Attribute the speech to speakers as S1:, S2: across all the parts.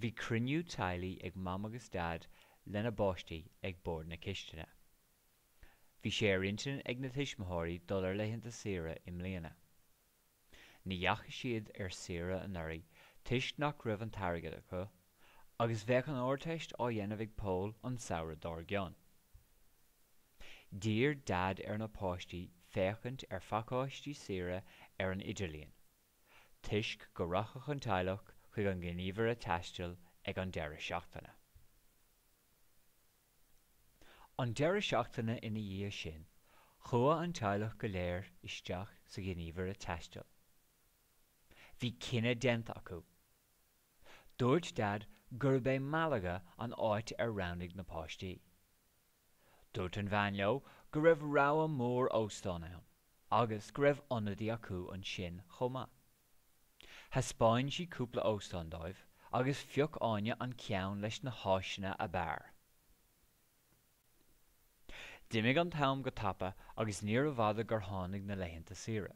S1: Bhí cruinniú teaghlaigh ag Mam agus Dad lena bpáistí ag bord na cistine. Bhí sé ar intinn ag na tuismitheoirí dul ar laethanta saoire i mbliana. Ní dheachaigh siad ar saoire anuraidh toisc nach raibh an t-airgead acu, agus bheadh an Ardteist á dhéanamh ag Pól an samhradh dár gcionn. D'iarr Dad ar na páistí féachaint ar phacáistí saoire ar an idirlíon. toisc go rachadh an teaghlach chuig an ngníomhaire taistil ag an deireadh seachtaine. An deireadh seachtaine ina dhiaidh sin, chuaigh an teaghlach go léir isteach sa ghníomhaire taistil. Bhí cinneadh déanta acu. Dúirt Dad gurb é Malaga an áit ar roghnaigh na páistí. Dúirt an bhean leo go raibh rogha mór óstán ann agus go raibh ionadaí acu ansin chomh maith. Thaispeáin sí cúpla óstán dóibh agus phioc Áine an ceann leis na háiseanna ab fhearr. D'imigh an t-am go tapa agus níorbh fhada gur tháinig na laethanta saoire.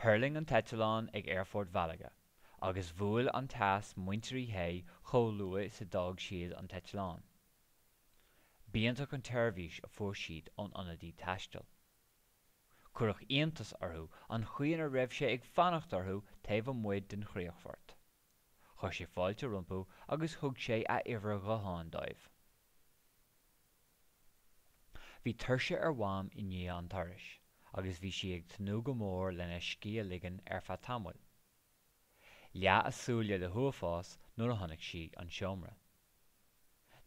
S1: Thuirling an t-eitleán ag Aerfort Mhalaga agus bhuail an teas muintir Uí Shé chomh luath is a d'fhág siad an t-eitleán. B'iontach an tseirbhís a fuair siad ón ionadaí taistil. Cuireadh iontas orthu an chaoi ina raibh sé ag fanacht orthu taobh amuigh den chríochfort. Chuir sé fáilte rompu agus thug sé a uimhir ghutháin dóibh. Bhí tuirse ar Mham i ndiaidh an turais agus bhí sí ag tnúth go mór lena scíth a ligean ar feadh tamaill. Leath a súile le huafás nuair a chonaic sí an seomra.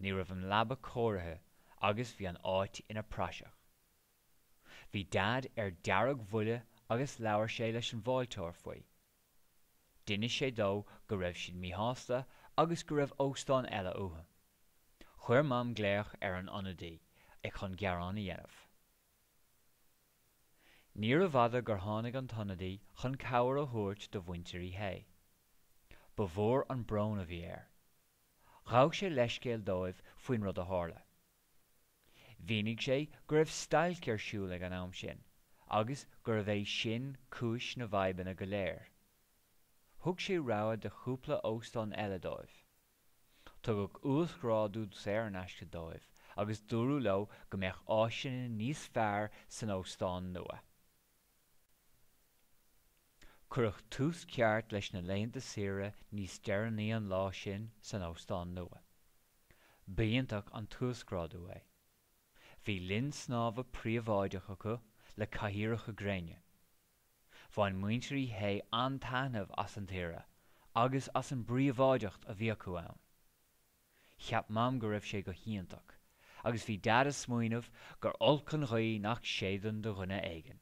S1: Ní raibh an leaba cóirithe agus bhí an áit ina praiseach. Bhí Dad ar dearg-bhuile agus labhair sé leis an bhfáilteoir faoi. D'inis sé dó go raibh siad míshásta agus go raibh óstán eile uathu. Chuir Mam glaoch ar an ionadaí chun gearán a dhéanamh. Níorbh fhada gur tháinig an t-ionadaí chun cabhair a thabhairt do mhuintir Uí Shé. Ba mhór an brón a bhí air. Ghabh sé leithscéal dóibh faoin rud a tharla. Mhínigh sé go raibh stailc ar siúl ag an am sin agus gurbh é sin cúis na bhfadhbanna go léir. Thug sé rogha de chúpla óstán eile dóibh. Tugadh uasghrádú saor in aisce dóibh agus dúradh leo go mbeadh áiseanna níos fearr san óstán nua. Cuireadh tús ceart leis na laethanta saoire níos deireanaí an lá sin san óstán nua. B'iontach an t-uasghrádú é. Bhí linn snámha príobháideach acu le cathaoireacha gréine. Bhain muintir Uí Shé an-taitneamh as an tsaoire agus as an bpríobháideacht a bhí acu ann. Cheap Mam go raibh sé go hiontach agus bhí Dad ag smaoineamh gur olc an ghaoth nach séideann do dhuine éigin.